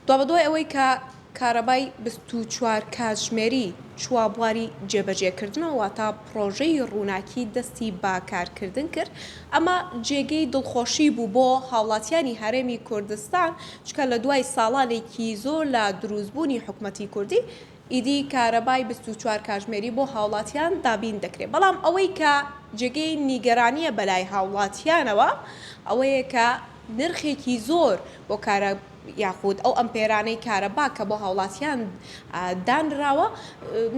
دوابەدوای ئەوەی کە کارەبای بیست و چوار کاتژمێری چووە بواری جێبەجێکردنەوە واتا پڕۆژەی ڕووناکی دەستی بە کارکردن کرد ئەمە جێگەی دڵخۆشی بوو بۆ هاوڵاتیانی هەرێمی کوردستان چکە لە دوای ساڵانێکی زۆر لە دروستبوونی حکومەتی کوردی ئیدی کارەبای بیست و چوار کاژمێری بۆ هاوڵاتیان دابین دەکرێت، بەڵام ئەوەی کە جێگەی نیگەرانییە بەلای هاوڵاتیانەوە ئەوەیە کە نرخێکی زۆر بۆ کارە یاخود ئەو ئەمپێرانەی کارەبا کە بۆ هاوڵاتیان دانراوە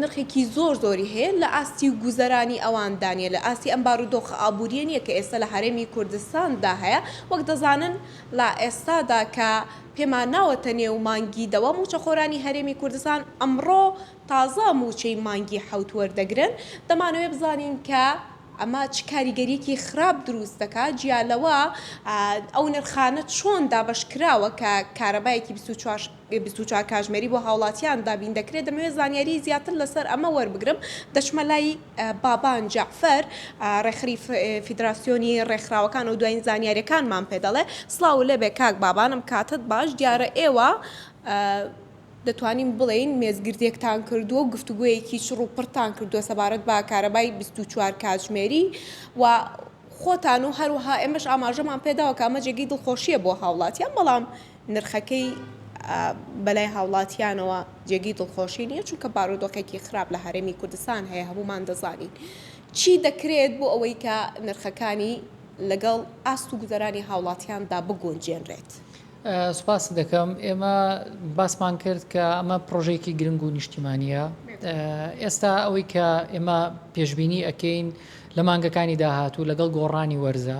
نرخێکی زۆر زۆری هەیە لە ئاستی گوزەرانی ئەواندا نیە لە ئاستی ئەم بارودۆخە ئابوریە نیە کە ئێستا لە هەرێمی کوردستاندا هەیە وەک دەزانن لە ئێستادا کە پێمان ناوەتە نێو مانگی دەوە مووچەخۆرانی هەرێمی کوردستان ئەمڕۆ تازە مووچەی مانگی حەوت وەردەگرن، دەمانەوێت بزانین کە ئەمە چ کاریگەرییەکی خراپ دروست دەکات، جیا لەوە ئەو نرخانە چۆن دابەشکراوە کە کارەبایەکی بیست و چوار بیست و چوار کاژمێری بۆ هاوڵاتیان دابین دەکرێت، دەمەوێت زانیاریی زیاتر لەسەر ئەمە وەربگرم، دەچمە لای. بابان جەعفەر، ڕێکخەری فیدراسیۆنی ڕێکخراوەکان و دوایین زانیارییەکانمان پێ دەڵێ. سڵاو لێبێ کاک بابان، ئەم کاتەت باش، دیارە ئێوە دەتوانین بڵێین مێزگردێکتان کردووە و گفتوگۆیەکی چڕ و پڕتان کردووە سەبارەت بە کارەبای بیست و چوار کاتژمێری و خۆتان و هەروەها ئێمەش ئاماژەمان پێداوە کە ئەمە جێگەی دڵخۆشییە بۆ هاوڵاتیان، بەڵام نرخەکەی بەلای هاوڵاتیانەوە جێگەی دڵخۆشی نیە چونکە بارودۆخێکی خراپ لە هەرێمی کوردستان هەیە هەموومان دەزانین چی دەکرێت بۆ ئەوەی کە نرخەکانی لەگەڵ ئاست و گوزەرانی هاوڵاتیاندا بگونجێنرێت. سوپاست دەکەم ئێمە باسمان کرد کە ئەمە پڕۆژەیەکی گرنگ و نیشتیمانیە ئێستا ئەوەی کە ئێمە پێشببینی ئەەکەین لە مانگەکانی داهاتوو لەگەڵ گۆڕانی وەرزە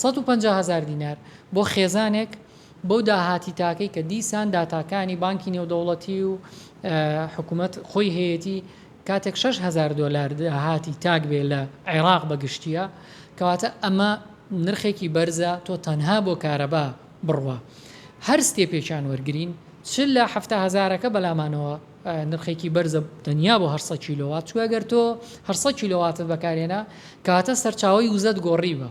سەد و پەنجا هەزار دینار بۆ خێزانێک بەو داهاتی تاکەی کە دیسان داتاکانی بانکی نێودەوڵەتی و حکومەت خۆی هەیەتی کاتێک شەش هەزار دۆلار داهاتی تاک بێ لە عێراق بە گشتیە کەواتە ئەمە نرخێکی بەرزە تۆ تەنها بۆ کارەبا بڕوا هەر ستێپێکیان وەرگرین چ لە حەفتا هەزارەکە بەلامانەوە نرخێکی بەرزە تەنیا بۆ هەر سەد کیلۆوات چونکە گەر تۆ هەر سەد کیلۆواتت بەکارهێنا کەواتە سەرچاوەی وزەت گۆڕیوە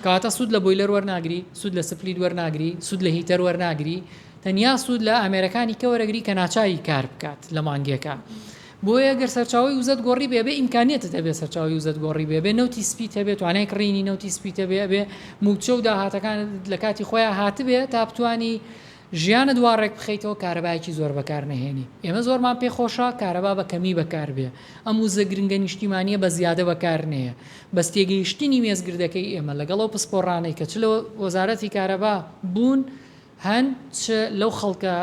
کەواتە سود لە بۆیلەر وەرناگری سود لە سپلیت وەرناگری سود لە هیتەر وەرناگری تەنیا سود لە ئامێرەکانی کە وەرەگری کە ناچاری کار بکات لە مانگێکا بۆیە گەر سەرچاوەی وزەت گۆڕی بێ بێ ئیمکانیەتت هەبێ سەرچاوەی وزەت گۆڕی بێ بێ نەوتی سپیت هەبێ توانای کڕینی نەوتی سپیتە بێ بێ موچە و داهاتەکانت لە کاتی خۆیان هاتبێ تا بتانی ژیانت وا ڕێک بخەیتەوە کارەبایەکی زۆر بەکار نەهێنی ئێمە زۆرمان پێ خۆشە کارەبا بە کەمی بەکار بێ ئەم وزە گرنگە نیشتیمانیە بە زیادە بەکار نەیە بەس تێگەیشتنی مێزگردەکەی ئێمە لەگەڵ ئەو پسپۆڕانەی کە چ لە وەزارەتی کارەبا بوون هەن چ لەو خەڵکە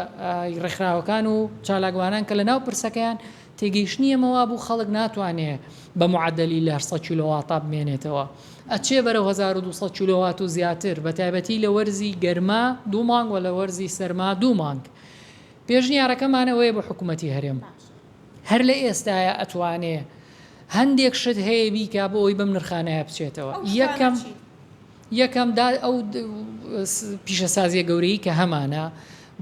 ڕێکخراوەکان و چالاکوانان کە لە ناو پرسەکەیان تێگەیشتنی ئێمە وابوو خەڵک ناتوانێ بە معەدەلی لە سەد کیلۆواتا بمێنێتەوە ئەچێ بەرەو هەزار و دوو سەد کیلۆوات و زیاتر بە تایبەتی لە وەرزی گەرما دوو مانگ و لە وەرزی سەرما دوو مانگ پێشنیارەکەمان ئەوەیە بۆ حکوومەتی هەرێم هەر لە ئێستایە ئەتوانێ هەندێک شت هەیە بیکا بۆ ئەوەی بەم نرخانە بچێتەوە یەکەم. یەکەم، دا ئەو پیشەسازییە گەورەی کە هەمانە،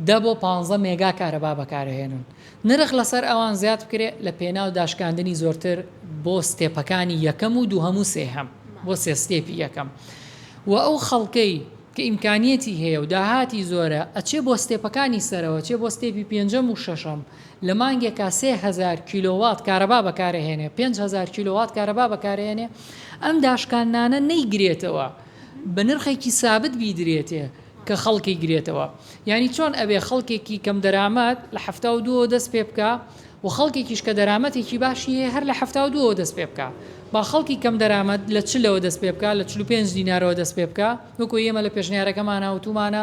دە بۆ پانزە مێگا کارەبا بەکارئەهێنن، نرخ لەسەر ئەوان زیاد بکرێ لە پێناو داشکاندنی زۆرتر بۆ ستێپەکانی یەکەم و دووهەم و سێهەم، بۆ سێ ستێپی یەکەم و ئەو خەڵکەی کە ئیمکانیەتی هەیە و داهاتی زۆرە ئەچێ بۆ ستێپەکانی سەرەوە، چێ بۆ ستێپی پێنجەم و شەشەم. لە مانگێکا سێ هەزار کیلۆوات کارەبا بەکارئەهێنێ، پێنج هەزار کیلۆوات کارەبا بەکارئەهێنێ، ئەم داشکاندنانە نەیگرێتەوە، بە نرخێکی سابت بیدرێتێ کە خەڵک ئەیگرێتەوە. یانی چۆن ئەبێ خەڵکێکی کەم دەرامەت لە حەفتا و دووەوە دەست پێ بکا و خەڵکێکیش کە دەرامەتێکی باشی هەیە هەر لە حەفتا و دووەوە دەست پێ بکا. با خەڵکی کەم دەرامەت لە چلەوە دەست پێ بکا، لە چل و پێنج دینارەوە دەست پێ بکا، وەکو ئێمە لە پێشنیارەکەمانا وتوومانە،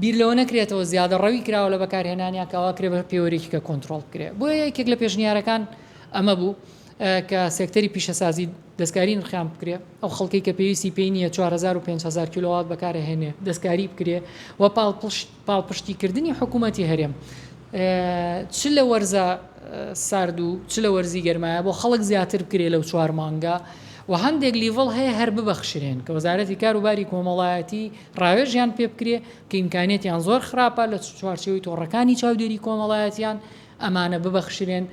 بیر لەوە نەکرێتەوە زیادەڕەوی کراوە لە بەکارهێنانیان کە ئەوا کرێ بە پێوەرێکی کە کۆنتڕۆڵ بکرێت. بۆیە یەکێک لە پێشنیارەکان ئەمە بوو کە سێکتەری پیشەسازی دەستکاری نرخیان بکرێ، ئەو خەڵکەی کە پێویستی پێی نییە چوار هەزار و پێنج هەزار کیلۆوات بەکار ئەهێنێ دەستکاری بکرێ و پاڵپشتی کردنی حکوومەتی هەرێم چ لە وەرزە سارد و چ لە وەرزی گەرمایە بۆ خەڵک زیاتر بکرێ لەو چوار مانگە و هەندێک لیڤڵ هەیە هەر ببەخشرێن کە وەزارەتی کار و باری کۆمەڵایەتی ڕاوێژیان پێ بکرێ کە ئیمکانیەتیان زۆر خراپە لە چوارچێوەی تۆڕەکانی چاودێری کۆمەڵایەتیان ئەمانە ببەخشرێن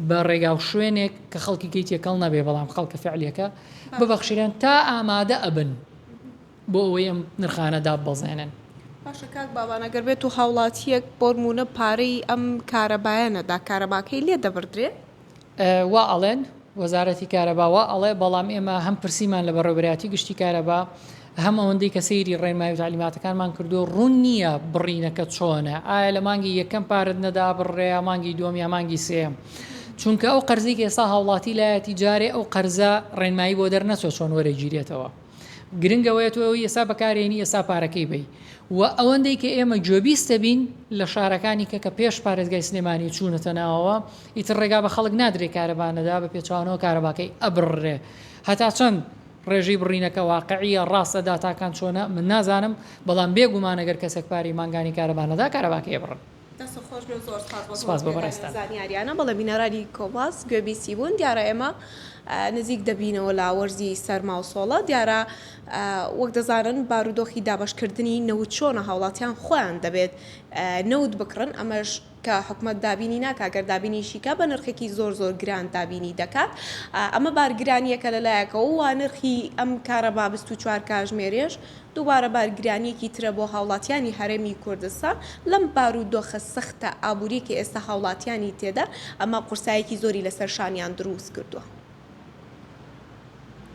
بە ڕێگا و شوێنێک کە خەڵکی گەی تێکەڵ نەبێ بەڵام خەڵکە فعلەکە ببەخشرێن تا ئامادە ئەبن بۆ ئەوەی ئەم نرخانە داببەزێنن باشە کاک باڵانە گەر بێت و هاوڵاتیەک بۆرمونە پارەی ئەم کارەبایە نەدا کارەباکەی لێ دەبردرێ وا ئەڵێن، وەزارەتی کارەبا وا ئەڵێ، بەڵام ئێمە هەم پرسیمان لە بەڕێوەبەرایەتی گشتی کارەبا، هەم ئەوەندەی کە سەیری ڕێنمایی و تەعلیماتەکانمان کردووە، ڕوون نییە بڕینەکە چۆنە، ئایا لە مانگی یەکەم پارەت نەدا بڕرێ یا مانگی دووەم یا مانگی سێیەم؟ چونکە ئەو قەرزەی کە ئێستا هاوڵاتی لایەتی جارێ ئەو قەرزە ڕێنمایی بۆ دەرنەچووە چۆن وەرەگیرێتەوە. گرنگ ئەوەیە تۆ ئەوی ئێستا بەکارهێنی ئێستا پارەکەی بەی. وە ئەوەندەی کە ئێمە گوێبیست دەبین لە شارەکانی کە کە پێش پارێزگای سلێمانی و چوونەتە ناوەوە، ئیتر ڕێگا بە خەڵک نادرێ کارەبا نەدا بە پێچەوانەوە کارەباکەی ئەبڕرێ هەتا چەند ڕێژەی بڕینەکە واقعییە ڕاستە داتاکان چۆنە من نازانم بەڵام بێ گومان ئەگەر کەسێک پارەی مانگانی کارەبا نەدا کارەباکەی ئەبڕن. دەستت خۆش بێ و زۆر سپاس بۆ سپاس بۆ تۆزیە دانی ئەم بەڕێزتان. زانیاریانە بەڵێ بینەرانی کۆباس گوێ بیسی بوون دیارە ئێمە نزیک دەبینەوە لە وەرزی سەرما و سۆڵە دیارە وەک دەزانن بارودۆخی دابەش کردنی نەوت چۆنە هاوڵاتیان خۆیان دەبێت نەوت بکڕن ئەمەش کە حکومەت دابینی ناکات گەر دابینیشی کا بە نرخێکی زۆر زۆر گران دابینی دەکات ئەمە بارگرانیەکە لە لایەکەوە وا نرخی ئەم کارەبا بیست و چوار کاژمێرێش دووبارە بارگرانیەکی ترە بۆ هاوڵاتیانی هەرێمی کوردستان لەم بارو دۆخە سەختە ئابوریە کە ئێستا هاوڵاتیانی تێدان ئەمە قورسایەکی زۆری لەسەر شانیان دروست کردوە.